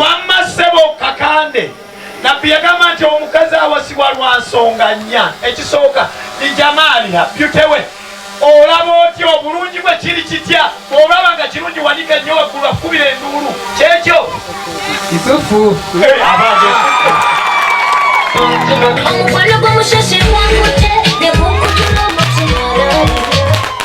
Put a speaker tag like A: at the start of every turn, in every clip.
A: wamma ssebo kakande nabbi yagamba nti omukazi awasibwa lwa nsonga nnya ekisooka ni jamaaliha byutewe olaba otya obulungi bwe kiri kitya olaba nga kirungi wanika nnyo waggulu akukubira enduulu kyekyo kitufu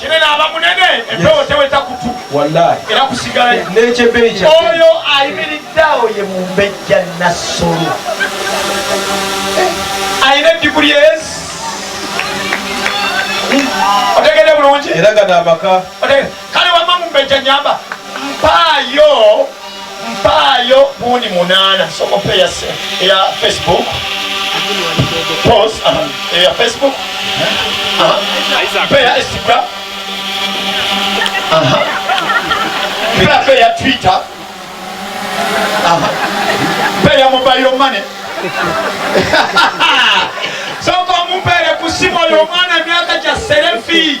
A: kinene aba munene empewo teweta kutu era
B: kusigala
A: nekyebeja
B: oyo
A: ayimiridde awo ye mumbejja nassolo alina ediguli ezi otegede bulungi era gano amaka
B: kale wama
A: mumbejja nyamba mpaayo mpaayo buundi munaana sokopa eya facebook pos eya facebook eya instagram mpe eya twitter mpe eya mobile money soka omumpeere ku simu oyo omwana emyaka gya serefi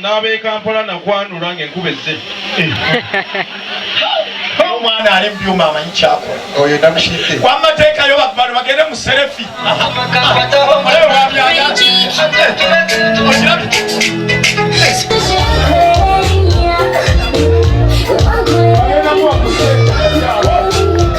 A: n'ab'e Kampala
B: nakwanula ng'enkuba ezze
A: omwana ali mubyuma amanyi kyakola oyo namushidde
B: wamateeka yo bakubantu
A: bagende mu serefi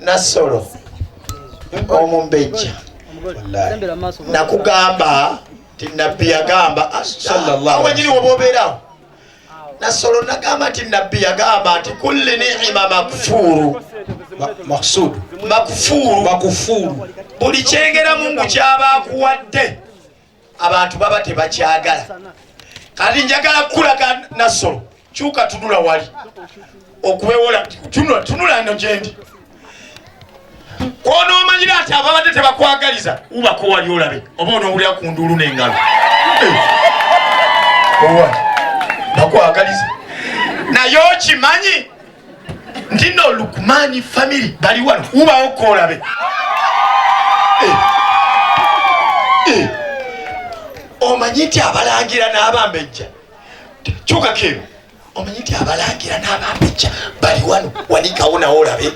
A: Nasolo omumbejja nakugamba nti nabbi yagamba awanyini wobobeerawo nasolo nagamba nti nabbi yagamba nti kulli niima makfuuru maksudu makfuuru makufuru buli kyengera mungu kyaba akuwadde abantu baba tebakyagala kati njagala kukulaga nassolo kyuka tunula wali okubewola tunula no gyendi kwonoomanyira nti ababadde tebakwagaliza ubako wali olabe oba onoowulira ku nduulu n'engalo eh. owa bakwagaliza naye okimanyi ntino lukumani family bali wano ubawo kolabe eh. eh. omanyi nti abalangira n'abambejja kyuka kero omanyi nti abalangira n'abambejja bali wano wanikawo nawo olabe eh.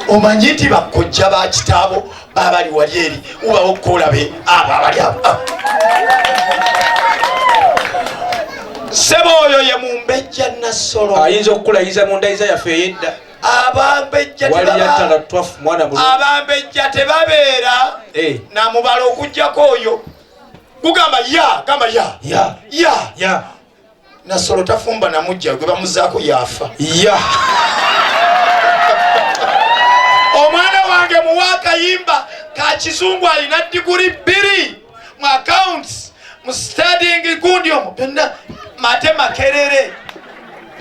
A: omanyi nti bakojja ba kitaabo babali wali eri ubawo kolabe abo abali abo ah. sebo oyo ye mumbejja nassolo ayinza okukulayiza mu
B: ndayiza yaffe eyedda
A: abambejja tebabeera eh. namubala okujjako oyo gugamba ya gamba ya ya ya nasolo tafumba namujja gwe bamuzaako yaafa ya omwana wange muwa akayimba ka kizungu alina diguli bbiri mu accounts mu stading gundi omu byonna mate makerere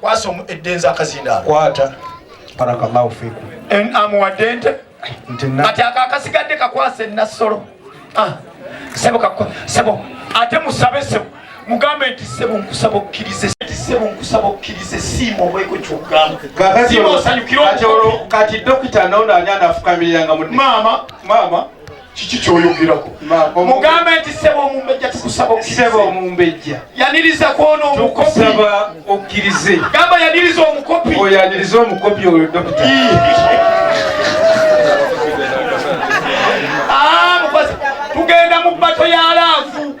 A: kwasa eddenzi akazindaalo kwata
B: barakallahu fikum en amuwadde ente
A: kati ako akasigadde kakwasa ennassolo ah, sebo sebo ate musabe sebo mugambe nti sebo nkusaba okkirize nti sebo nkusaba okkirize siima obweko kyogamba
B: kati dokita noono ani anafukamirira nga maama maama
A: kiki kyoyogerako mugambe nti sebo omumbejja tukusaba okusaba omumbejja
B: yaniriza kwona
A: omukopiaba
B: okkirize gamba yaniriza
A: omukopi oyo yaniriza omukopi
B: oyo dokita
A: ah, tugenda mu bato ya laavu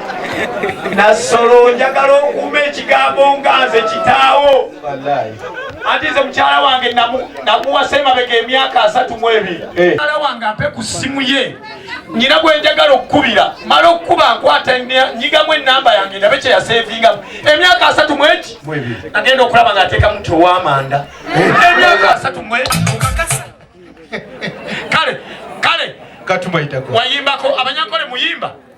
A: nassolo njagala okuuma ekigambo nga nze kitaawo anti nze mukyala wange namuwasa emabega emyaka asatu mu ebiri eh. mukyala wange ampe ku ssimu ye nyina gwe njagala okukubira mala okukuba nkwata nyigamu enamba yange ndabe kyeyasevingamu emyaka asatu mweki agenda okulaba nga ateeka muti owamanda eh. emyaka asatu mweki kale kale
B: wayimbako abanyankole
A: muyimba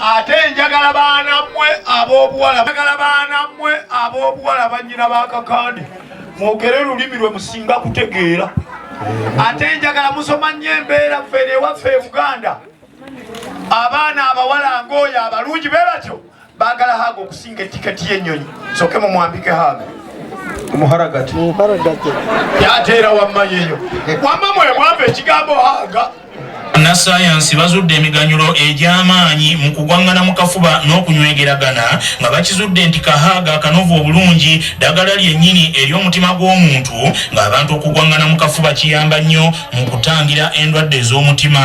A: ate njagala baana mmwe ab'obuwala njagala baana mmwe ab'obuwala bannyina ba kakande mwogere lulimi lwe musinga kutegeera ate njagala musoma nnyo embeera ffene ewaffe e buganda abaana abawala ng'oyo abalungi be batyo baagala haaga okusinga etiketi y'ennyonyi soke mumwambike haaga omuharagati yateera wamma yeyo wamma mwemwava ekigambo haaga Bannassaayansi
C: bazudde emiganyulo egy'amaanyi mu kugwang'ana mu kafuba n'okunywegeragana nga bakizudde nti kahaga akanovu obulungi ddagala lyennyini eri omutima gw'omuntu ng'abantu okugwang'ana mu kafuba kiyamba nnyo mu kutangira endwadde ez'omutima.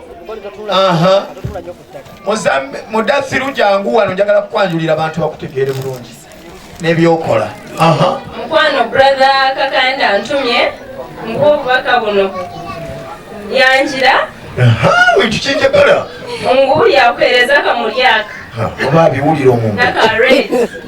A: mudathiru jangu wano njagala kukwanjulira abantu bakutegeere bulungi nebyokola mukwano brother
D: kakanda ntumye nkuwa obubaka buno yanjira
A: bintu kinjagala mungu
D: yakuhereza akamulyaka oba abiwulira
A: omuntu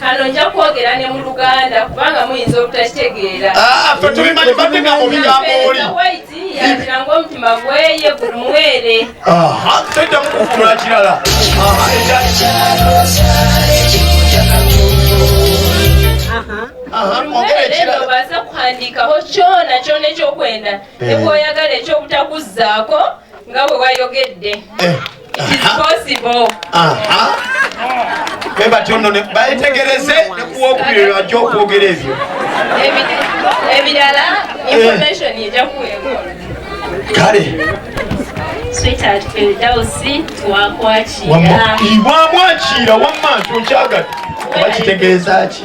D: kano nja kwogera ne mu luganda kubanga muyinza obutakitegeera ah, fe tubimanyi
A: batega mu bigambo oli yatira
D: ng'omutima gweye gulumwere tedda
A: mukufuna kirala
D: obaza kuhandikaho kyona kyona ekyokwenda eh. nekwoyagala ekyobutakuzaako nga bwe wayogedde eh.
A: bwe batyo nno bayetegereze ne kuwokubiri lwajja okwogera ebyo
D: ebirala eh. information ejja kuweebwa kale wamwakira
A: wamma nti nkyagadde oba kitegeeza ki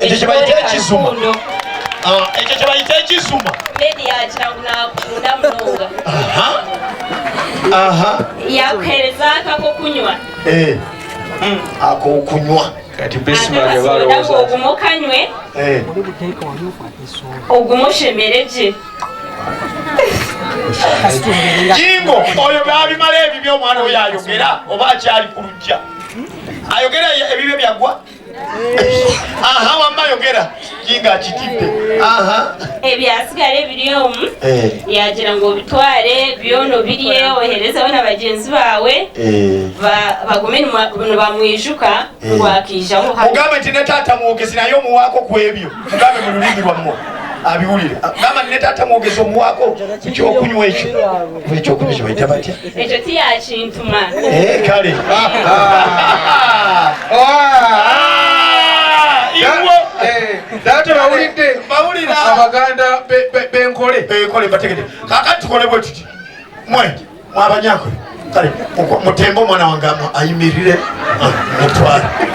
A: ekyo kyebayita ekizuma ah, ekyo
D: kyebayita ekizuma yakuhereza akakokunywa
A: eh. hmm.
B: akokunywa ogumukanywe
D: eh. ogumushemereje
A: jingo oyo babimala ebibyo omwana oyo ayogera oba akyali ku lujja ayogera ebibyo byagwa aha wamma yogera kinga akitidde aha ebyasigala
D: ebiri omu eh. yagira ngu obitwale byono birye oherezeho na bagenzi baawe eh. bagume nibamwijuka eh. nibwakiijaho mugambe nti ne taata
A: mwogezi naye omuwaako ku ebyo mugambe mu lulimi lwammwe abiwulire gamba ne taata mwogezi omuwaako ku kyokunywa ekyo ekyokunywa kyebaita batya
D: ekyo tiyakintuma
A: eh, kale ah,
B: ah. Ah, eh, data bawulidde abaganda benkole
A: benkole bategede kakati tukole bwe tuti mwe mwabanyakwe kale mutembe omwana wange ayimirire mutwale